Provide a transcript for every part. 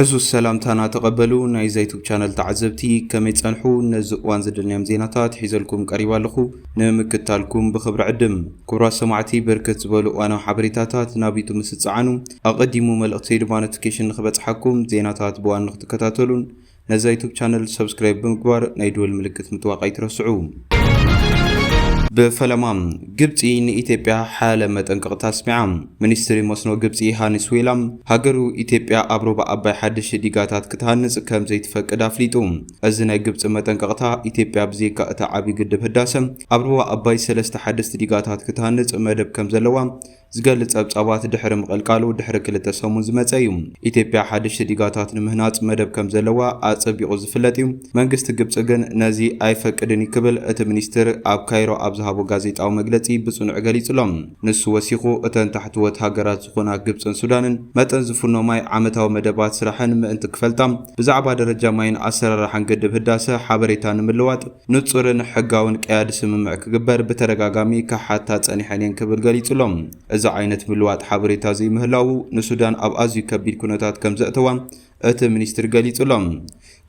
ዕዙዝ ሰላምታና ተቐበሉ ናይ ዛይቱብ ቻነል ተዓዘብቲ ከመይ ጸንሑ ነዚ እዋን ዝደልናዮም ዜናታት ሒዘልኩም ቀሪባ ኣለኹ ንምክታልኩም ብኽብሪ ዕድም ኩብራት ሰማዕቲ በርከት ዝበሉ እዋናዊ ሓበሬታታት ናብ ዩቱብ ምስጸዓኑ ኣቐዲሙ መልእኽተይ ድማ ኖቲኬሽን ንኽበጽሓኩም ዜናታት ብዋን ንኽትከታተሉን ነዛ ዩቱብ ቻነል ሰብስክራይብ ብምግባር ናይ ድወል ምልክት ምጥዋቅ ኣይትረስዑ። ብፈለማ ግብፂ ንኢትዮጵያ ሓያለ መጠንቀቕታ ኣስሚዓ። ሚኒስትሪ መስኖ ግብፂ ሃኒስ ዌላም ሃገሩ ኢትዮጵያ ኣብ ሩባ ኣባይ ሓደሽቲ ዲጋታት ክትሃንፅ ከምዘይትፈቅድ ኣፍሊጡ። እዚ ናይ ግብፂ መጠንቀቕታ ኢትዮጵያ ብዘይካ እቲ ዓብዪ ግድብ ህዳሰ ኣብ ሩባ ኣባይ ሰለስተ ሓደስቲ ዲጋታት ክትሃንፅ መደብ ከምዘለዋ ዝገልጽ ጸብጻባት ድሕሪ ምቕልቃሉ ድሕሪ ክልተ ሰሙን ዝመጸ እዩ። ኢትዮጵያ ሓደሽቲ ዲጋታት ንምህናጽ መደብ ከም ዘለዋ ኣጸቢቑ ዝፍለጥ እዩ፣ መንግስቲ ግብጺ ግን ነዚ ኣይፈቅድን እዩ ክብል እቲ ሚኒስትር ኣብ ካይሮ ኣብ ዝሃቦ ጋዜጣዊ መግለጺ ብጽኑዕ ገሊጹ ኣሎ። ንሱ ወሲኹ፣ እተን ታሕተዎት ሃገራት ዝኾና ግብጽን ሱዳንን መጠን ዝፍኖ ማይ፣ ዓመታዊ መደባት ስራሕን ምእንቲ ክፈልጣ፣ ብዛዕባ ደረጃ ማይን ኣሰራርሓን ግድብ ህዳሰ ሓበሬታ ንምልዋጥ፣ ንጹርን ሕጋውን ቀያዲ ስምምዕ ክግበር ብተደጋጋሚ ክሓታ ጸኒሐን እየን ክብል ገሊጹ ኣሎ። እዚ ዓይነት ምልዋጥ ሓበሬታ ዘይምህላዉ ንሱዳን ኣብ ኣዝዩ ከቢድ ኩነታት ከም ዘእተዋ እቲ ሚኒስትሪ ገሊጹ ኣሎ።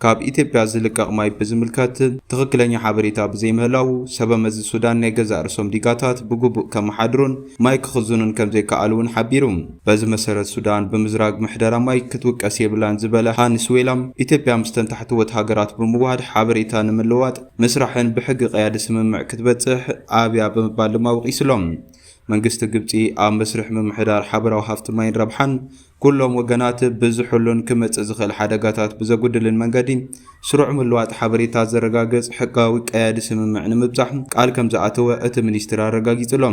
ካብ ኢትዮጵያ ዝልቀቕ ማይ ብዝምልከት ትኽክለኛ ሓበሬታ ብዘይምህላዉ፣ ሰበመዚ ሱዳን ናይ ገዛእ ርእሶም ዲጋታት ብግቡእ ከመሓድሩን ማይ ክኽዝኑን ከም ዘይከኣሉ'ውን ሓቢሩ። በዚ መሰረት ሱዳን ብምዝራግ ምሕደራ ማይ ክትውቀስ የብላን ዝበለ ሃንስ ዌላም፣ ኢትዮጵያ ምስተን ታሕተዎት ሃገራት ብምውሃድ ሓበሬታ ንምልውዋጥ ምስራሕን ብሕጊ ቀያዲ ስምምዕ ክትበጽሕ ኣብያ ብምባል ድማ ወቒሱ ኣሎ። መንግስቲ ግብጺ ኣብ መስርሕ ምምሕዳር ሓበራዊ ሃፍቲ ማይን ረብሓን ኩሎም ወገናት ብዝሕሉን ክመጽእ ዝኽእል ሓደጋታት ብዘጉድልን መንገዲ ስሩዕ ምልዋጥ ሓበሬታ ዘረጋግጽ ሕጋዊ ቀያዲ ስምምዕ ንምብጻሕ ቃል ከምዝኣተወ እቲ ሚኒስትሪ ኣረጋጊጹ ኣሎ።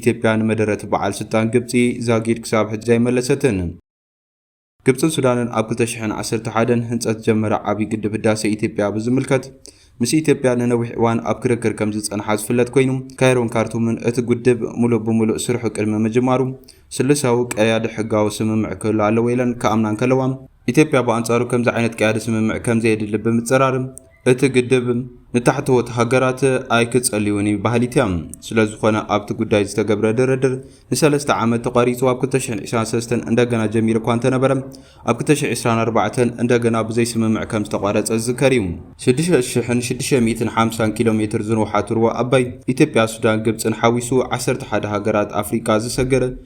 ኢትዮጵያ ንመደረት በዓል ስልጣን ግብጺ ዛጊድ ክሳብ ሕጂ ኣይመለሰትን። ግብጽን ሱዳንን ኣብ 2011 ህንጸት ዝጀመረ ዓብዪ ግድብ ህዳሴ ኢትዮጵያ ብዝምልከት ምስ ኢትዮጵያ ንነዊሕ እዋን ኣብ ክርክር ከም ዝጸንሓ ዝፍለጥ ኮይኑ ካይሮን ካርቱምን እቲ ግድብ ሙሉእ ብሙሉእ ስርሑ ቅድሚ ምጅማሩ ስሉሳዊ ቀያዲ ሕጋዊ ስምምዕ ክህሉ ኣለዎ ኢለን ክኣምና እንከለዋ ኢትዮጵያ ብኣንጻሩ ከምዚ ዓይነት ቀያዲ ስምምዕ ከምዘየድሊ ብምጽራር፣ እቲ ግድብ ንታሕተዎት ሃገራት ኣይክጸልይውን እዩ በሃሊት እያ። ስለዝኾነ ኣብቲ ጉዳይ ዝተገብረ ድርድር ንሰለስተ ዓመት ተቋሪጹ ኣብ ክልተ ሽሕን ዕስራን ሰለስተን እንደገና ጀሚሩ እኳ እንተነበረ ኣብ ክልተ ሽሕን ዕስራን ኣርባዕተን እንደገና ብዘይ ስምምዕ ከምዝተቋረጸ ዝዝከር እዩ። ሽዱሽተ ሽሕን ሽዱሽተ ሚእትን ሓምሳን ኪሎ ሜትር ዝንውሓት ሩባ ኣባይ ኢትዮጵያ፣ ሱዳን፣ ግብጽን ሓዊሱ ዓሰርተ ሓደ ሃገራት ኣፍሪቃ ዝሰግር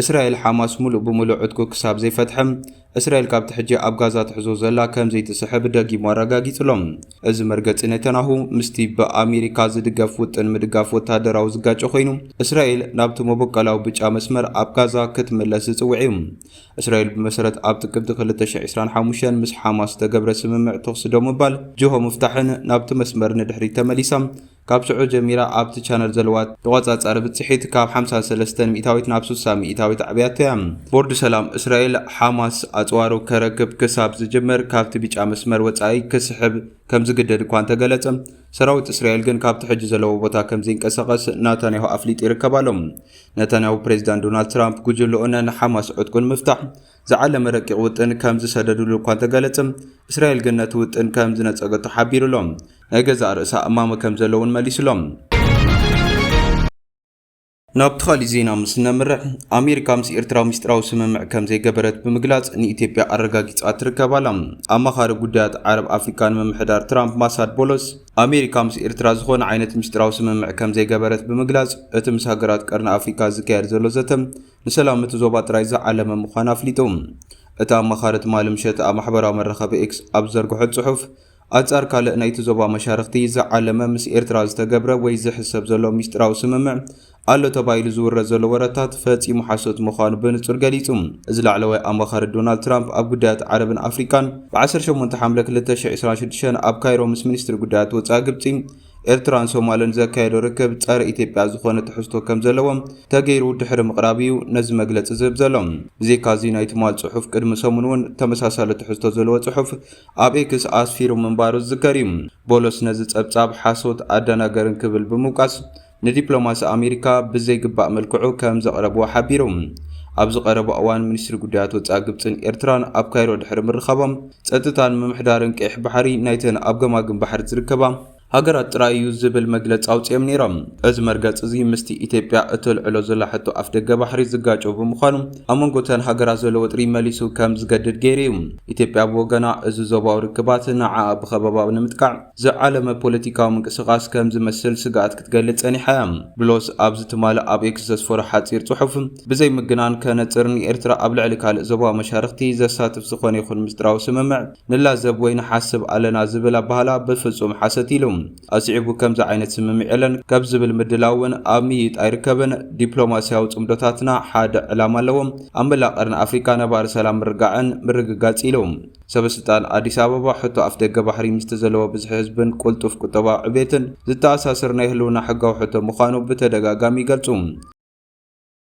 እስራኤል ሓማስ ምሉእ ብምሉእ ዕጥቁ ክሳብ ዘይፈትሐ፣ እስራኤል ካብቲ ሕጂ ኣብ ጋዛ ትሕዞ ዘላ ከም ዘይትስሕብ ደጊሙ ኣረጋጊጹ ኣሎ። እዚ መርገጺ ኔታንያሁ ምስቲ ብኣሜሪካ ዝድገፍ ውጥን ምድጋፍ ወተሃደራዊ ዝጋጮ ኮይኑ፣ እስራኤል ናብቲ መበቆላዊ ብጫ መስመር ኣብ ጋዛ ክትምለስ ዝጽውዕ እዩ። እስራኤል ብመሰረት ኣብ ጥቅምቲ ክልተ ሽሕ ዕስራን ሓሙሽተን ምስ ሓማስ ዝተገብረ ስምምዕ ተኹሲ ደው ምባል፣ ጅሆ ምፍታሕን ናብቲ መስመር ንድሕሪት ተመሊሳ ካብ ሽዑ ጀሚራ ኣብቲ ቻነል ዘለዋ ተቖጻጻሪ ብጽሒት ካብ ሓምሳ ሰለስተን ሚእታዊት ናብ ስሳ ሚእታዊት ኣዕብያቶ እያ። ቦርድ ሰላም እስራኤል፣ ሓማስ ኣጽዋሩ ከረክብ ክሳብ ዝጅምር ካብቲ ቢጫ መስመር ወጻኢ ክስሕብ ከምዝግደድ እኳ እንተገለጸ፣ ሰራዊት እስራኤል ግን ካብቲ ሕጂ ዘለዎ ቦታ ከምዘይንቀሳቐስ ናታንያሁ ኣፍሊጡ ይርከብ ኣሎ። ናታንያሁ ፕሬዚዳንት ዶናልድ ትራምፕ ጉጅለኡ ነን ሓማስ ዕጥቁ ንምፍታሕ ዝዓለመ ረቂቕ ውጥን ከም ዝሰደድሉ እኳ እንተገለጸ፣ እስራኤል ግን ነቲ ውጥን ከም ዝነጸገቶ ሓቢሩ ኣሎ። ናይ ገዛእ ርእሳ እማመ ከም ዘሎ እውን መሊሱ ኣሎ። ናብቲ ካልእ ዜና ምስ ነምርሕ፣ ኣሜሪካ ምስ ኤርትራ ምስጢራዊ ስምምዕ ከም ዘይገበረት ብምግላጽ ንኢትዮጵያ ኣረጋጊጻ ትርከብ ኣላ። ኣማኻሪ ጉዳያት ዓረብ ኣፍሪቃ ንምምሕዳር ትራምፕ ማሳድ ቦሎስ፣ ኣሜሪካ ምስ ኤርትራ ዝኾነ ዓይነት ምስጢራዊ ስምምዕ ከም ዘይገበረት ብምግላጽ፣ እቲ ምስ ሃገራት ቀርኒ ኣፍሪቃ ዝካየድ ዘሎ ዘተ ንሰላም እቲ ዞባ ጥራይ ዝዓለመ ምዃኑ ኣፍሊጡ። እታ ኣማኻሪ ትማሊ ምሸት ኣብ ማሕበራዊ መራኸቢ ኤክስ ኣብ ዝዘርግሖ ጽሑፍ፣ ኣንጻር ካልእ ናይቲ ዞባ መሻርኽቲ ዝዓለመ ምስ ኤርትራ ዝተገብረ ወይ ዝሕሰብ ዘሎ ምስጢራዊ ስምምዕ ኣሎ ተባሂሉ ዝውረ ዘሎ ወረታት ፈጺሙ ሓሶት ምዃኑ ብንጹር ገሊጹ። እዚ ላዕለዋይ ኣማኻሪ ዶናልድ ትራምፕ ኣብ ጉዳያት ዓረብን ኣፍሪቃን፣ ብ ዓሰርተ ሸሞንተ ሓምለ ክልተ ሽሕን ዕስራን ሽዱሽተን ኣብ ካይሮ ምስ ሚኒስትሪ ጉዳያት ወጻኢ ግብጺ ኤርትራን ሶማልን ዘካየዶ ርክብ ጸረ ኢትዮጵያ ዝኾነ ትሕዝቶ ከም ዘለዎ ተገይሩ ድሕሪ ምቕራብ እዩ ነዚ መግለጺ ዝህብ ዘሎ። ብዘይካዚ ናይ ትማል ጽሑፍ ቅድሚ ሰሙን እውን ተመሳሳሊ ትሕዝቶ ዘለዎ ጽሑፍ ኣብ ኤክስ ኣስፊሩ ምንባሩ ዝዝከር እዩ። ቦሎስ ነዚ ጸብጻብ ሓሶት፣ ኣደናጋርን ክብል ብምውቃስ ንዲፕሎማሲ ኣሜሪካ ብዘይግባእ መልክዑ ከም ዘቕረብዎ ሓቢሩ። ኣብዚ ቀረባ እዋን ሚኒስትሪ ጉዳያት ወጻኢ ግብጽን ኤርትራን ኣብ ካይሮ ድሕሪ ምርኻቦም ጸጥታን ምምሕዳርን ቀይሕ ባሕሪ ናይተን ኣብ ገማግም ባሕሪ ዝርከባ ሃገራት ጥራይ እዩ ዝብል መግለጺ ኣውጺኦም ነይሮም። እዚ መርገጺ እዚ ምስቲ ኢትዮጵያ እተልዕሎ ዘላ ሕቶ ኣፍደገ ባሕሪ ዝጋጮ ብምዃኑ ኣብ መንጎ እተን ሃገራት ዘሎ ወጥሪ መሊሱ ከም ዝገድድ ገይሩ እዩ። ኢትዮጵያ ብወገና እዚ ዞባዊ ርክባት ንዓኣ ብኸበባ ንምጥቃዕ ዝዓለመ ፖለቲካዊ ምንቅስቓስ ከም ዝመስል ስግኣት ክትገልጽ ጸኒሓ እያ። ብሎስ ኣብዚ ትማሊ ኣብ ኤክስ ዘስፈሮ ሓጺር ጽሑፍ፣ ብዘይ ምግናን ከነጽር ንኤርትራ ኣብ ልዕሊ ካልእ ዞባዊ መሻርኽቲ ዘሳትፍ ዝኾነ ይኹን ምስጢራዊ ስምምዕ ንላዘብ ወይ ንሓስብ ኣለና ዝብል ኣበሃህላ ብፍጹም ሓሰት ኢሉ። ኣስዒቡ ከምዚ ዓይነት ስምምዕ የለን ከብ ዝብል ምድላው እውን ኣብ ምይይጥ ኣይርከብን። ዲፕሎማስያዊ ጽምዶታትና ሓደ ዕላማ ኣለዎም፣ ኣብ መላእ ቀርኒ ኣፍሪቃ ነባሪ ሰላም ምርጋዕን ምርግጋጽ ኢሉ። ሰበስልጣን ኣዲስ ኣበባ፣ ሕቶ ኣፍደገ ባሕሪ ምስቲ ዘለዎ ብዝሒ ህዝብን ቅልጡፍ ቁጠባዊ ዕቤትን ዝተኣሳሰር ናይ ህልውና ሕጋዊ ሕቶ ምዃኑ ብተደጋጋሚ ይገልጹ።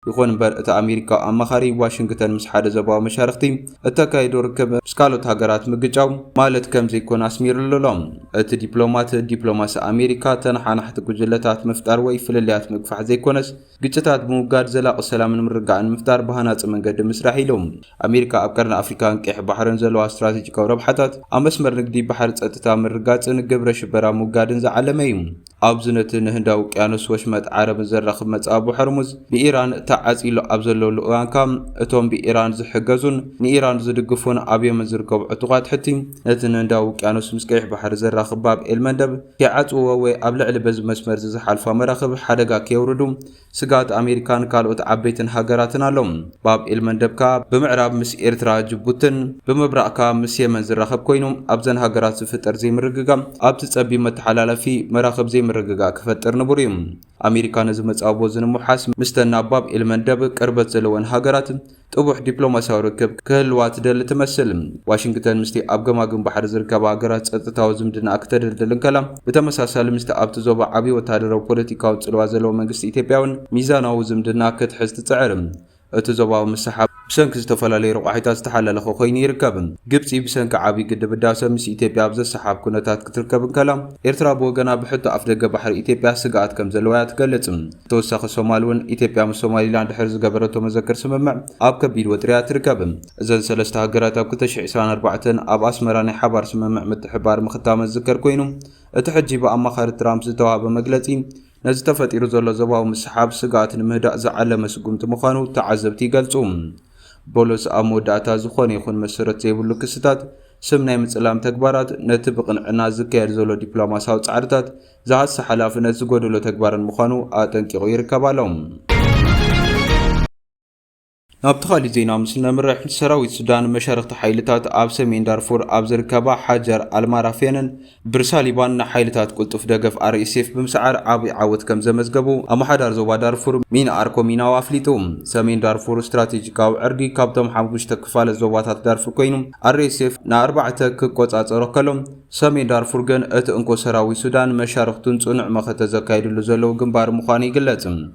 ይኹን እምበር እቲ ኣሜሪካዊ ኣማኻሪ፣ ዋሽንግተን ምስ ሓደ ዞባዊ መሻርኽቲ እተካይዶ ርክብ ምስ ካልኦት ሃገራት ምግጫው ማለት ከም ዘይኮነ ኣስሚርሉ ኣሎ። እቲ ዲፕሎማት፣ ዲፕሎማሲ ኣሜሪካ ተነሓናሕቲ ጉጅለታት ምፍጣር ወይ ፍልልያት ምግፋሕ ዘይኮነስ፣ ግጭታት ብምውጋድ ዘላቒ ሰላምን ምርግጋእን ንምፍጣር ብሃናፂ መንገዲ ምስራሕ ኢሉ። ኣሜሪካ ኣብ ቀርኒ ኣፍሪካን ቀይሕ ባሕርን ዘለዋ ስትራቴጂካዊ ረብሓታት ኣብ መስመር ንግዲ ባሕሪ ፀጥታ ምርግጋፅን ግብረ ሽበራ ምውጋድን ዝዓለመ እዩ። ኣብዚ ነቲ ንህንዳዊ ውቅያኖስ ወሽመጥ ዓረብን ዘራኽብ መፃብቦ ሆርሙዝ ብኢራን ተዓፂሉ ኣብ ዘለሉ እዋን ከዓ እቶም ብኢራን ዝሕገዙን ንኢራን ዝድግፉን ኣብ የመን ዝርከቡ ዕጡቓት ሑቲ ነቲ ንህንዳዊ ውቅያኖስ ምስ ቀይሕ ባሕሪ ዘራኽብ ባብ ኤል መንደብ ከይዓጽውዎ ወይ ኣብ ልዕሊ በዚ መስመርዚ ዝሓልፋ መራኽብ ሓደጋ ከየውርዱ ስግኣት ኣሜሪካን ካልኦት ዓበይትን ሃገራትን ኣሎ። ባብ ኤልመንደብ ከኣ ብምዕራብ ምስ ኤርትራ ጅቡትን ብምብራቕ ከኣ ምስ የመን ዝራኸብ ኮይኑ ኣብዘን ሃገራት ዝፍጠር ዘይምርግጋእ ኣብቲ ጸቢብ መተሓላላፊ መራኽብ ዘይምርግጋእ ክፈጥር ንቡር እዩ። ኣሜሪካ ነዚ መጻብቦ እዚ ንምውሓስ ምስተን ናብ ባብ ኤልመንደብ ቅርበት ዘለወን ሃገራት ጥቡሕ ዲፕሎማስያዊ ርክብ ክህልዋ ትደሊ ትመስል። ዋሽንግተን ምስቲ ኣብ ገማግም ባሕሪ ዝርከባ ሃገራት ጸጥታዊ ዝምድናኣ ክተደልድል እንከላ፣ ብተመሳሳሊ ምስቲ ኣብቲ ዞባ ዓቢ ወተሃደራዊ ፖለቲካዊ ጽልዋ ዘለዎ መንግስቲ ኢትዮጵያ'ውን ሚዛናዊ ዝምድና ክትሕዝ ትጽዕር። እቲ ዞባዊ ምስሕሓብ ብሰንኪ ዝተፈላለዩ ረቋሒታት ዝተሓላለኸ ኮይኑ ይርከብ። ግብጺ ብሰንኪ ዓብዪ ግድብ ህዳሰ ምስ ኢትዮጵያ ኣብ ዘሰሓሕብ ኩነታት ክትርከብ እንከላ፣ ኤርትራ ብወገና ብሕቶ ኣፍደገ ባሕሪ ኢትዮጵያ ስግኣት ከም ዘለዋ እያ ትገልጽ። ብተወሳኺ ሶማል እውን ኢትዮጵያ ምስ ሶማሊላንድ ድሕሪ ዝገበረቶ መዘክር ስምምዕ ኣብ ከቢድ ወጥሪ እያ ትርከብ። እዘን ሰለስተ ሃገራት ኣብ ክልተ ሽሕ ዕስራን ኣርባዕተን ኣብ ኣስመራ ናይ ሓባር ስምምዕ ምትሕብባር ምኽታመን ዝዝከር ኮይኑ፣ እቲ ሕጂ ብኣማኻሪ ትራምፕ ዝተዋህበ መግለጺ፣ ነዚ ተፈጢሩ ዘሎ ዞባዊ ምስሕሓብ ስግኣት ንምህዳእ ዝዓለመ ስጉምቲ ምዃኑ ተዓዘብቲ ይገልጹ። ቦሎስ ኣብ መወዳእታ ዝኾነ ይኹን መሰረት ዘይብሉ ክስታት፣ ስም ናይ ምጽላም ተግባራት፣ ነቲ ብቕንዕና ዝካየድ ዘሎ ዲፕሎማስያዊ ጻዕርታት ዝሃሲ ሓላፍነት ዝጎደሎ ተግባርን ምዃኑ ኣጠንቂቑ ይርከብ ኣሎ። ናብቲ ካሊእ ዜና ምስ እነምርሕ፣ ሰራዊት ሱዳን መሻርኽቲ ሓይልታት ኣብ ሰሜን ዳርፉር ኣብ ዝርከባ ሓጀር ኣልማራፍየንን ብርሳሊባን ንሓይልታት ቅልጡፍ ደገፍ RSF ብምስዓር ዓብይ ዓወት ከምዘመዝገቡ ኣማሓዳር ዞባ ዳርፉር ሚን ኣርኮ ሚናው ኣፍሊጡ። ሰሜን ዳርፉር ስትራቴጂካዊ ዕርዲ ካብቶም ሓሙሽተ ክፋለት ዞባታት ዳርፉር ኮይኑ RSF ንኣርባዕተ ክቆፃፀሮ ከሎ ሰሜን ዳርፉር ግን እቲ እንኮ ሰራዊት ሱዳን መሻርኽቱን ፅኑዕ መኸተ ዘካይድሉ ዘለዉ ግንባር ምዃኑ ይግለፅ።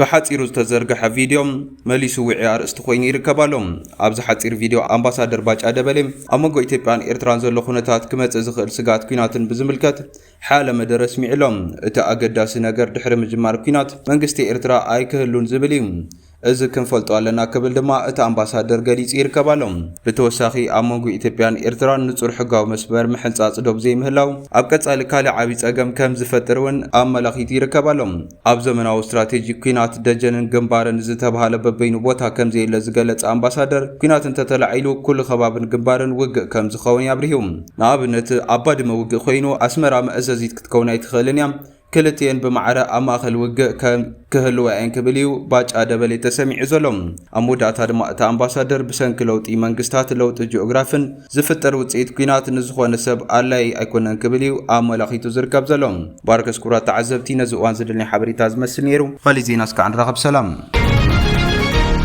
ብሓጺሩ ዝተዘርገሐ ቪድዮ መሊሱ ዊዒ ኣርእስቲ ኮይኑ ይርከብ ኣሎ። ኣብዚ ሓጺር ቪድዮ ኣምባሳደር ባጫ ደበሌ ኣብ መንጎ ኢትዮጵያን ኤርትራን ዘሎ ኩነታት ክመጽእ ዝኽእል ስግኣት ኲናትን ብዝምልከት ሓያለ መደረ ኣስሚዑ ኣሎ። እቲ ኣገዳሲ ነገር ድሕሪ ምጅማር ኲናት መንግስቲ ኤርትራ ኣይክህሉን ዝብል እዩ። እዚ ክንፈልጦ ኣለና ክብል ድማ እቲ ኣምባሳደር ገሊጹ ይርከብ ኣሎ። ብተወሳኺ ኣብ መንጎ ኢትዮጵያን ኤርትራን ንጹር ሕጋዊ መስመር ምሕንጻጽ ዶብ ዘይምህላው ኣብ ቀጻሊ ካልእ ዓቢ ጸገም ከም ዝፈጥር እውን ኣመላኺቱ ይርከብ ኣሎ። ኣብ ዘመናዊ ስትራቴጂ ኲናት ደጀንን ግንባርን ዝተብሃለ በበይኑ ቦታ ከምዘየለ ዝገለጸ ኣምባሳደር፣ ኲናት እንተተላዒሉ ኩሉ ከባብን ግንባርን ውግእ ከምዝኸውን ኣብሪሁ። ንኣብነት ኣብ ባድመ ውግእ ኮይኑ ኣስመራ መእዘዚት ክትከውን ኣይትኽእልን እያ፣ ክልቲኤን ብማዕረ ኣብ ማእኸል ውግእ ክህልዋ እየን ክብል እዩ ባጫ ደበሌ ተሰሚዑ ዘሎ። ኣብ መወዳእታ ድማ እቲ ኣምባሳደር ብሰንኪ ለውጢ መንግስታት፣ ለውጢ ጂኦግራፍን፣ ዝፍጠር ውጽኢት ኲናት ንዝኾነ ሰብ ኣላዪ ኣይኮነን ክብል እዩ ኣመላኺቱ ዝርከብ ዘሎ። ባርከስ ክቡራት ተዓዘብቲ ነዚ እዋን ዝደለኒ ሓበሬታ ዝመስል ነይሩ። ኻሊእ ዜና እስካዕ ንራኸብ ሰላም።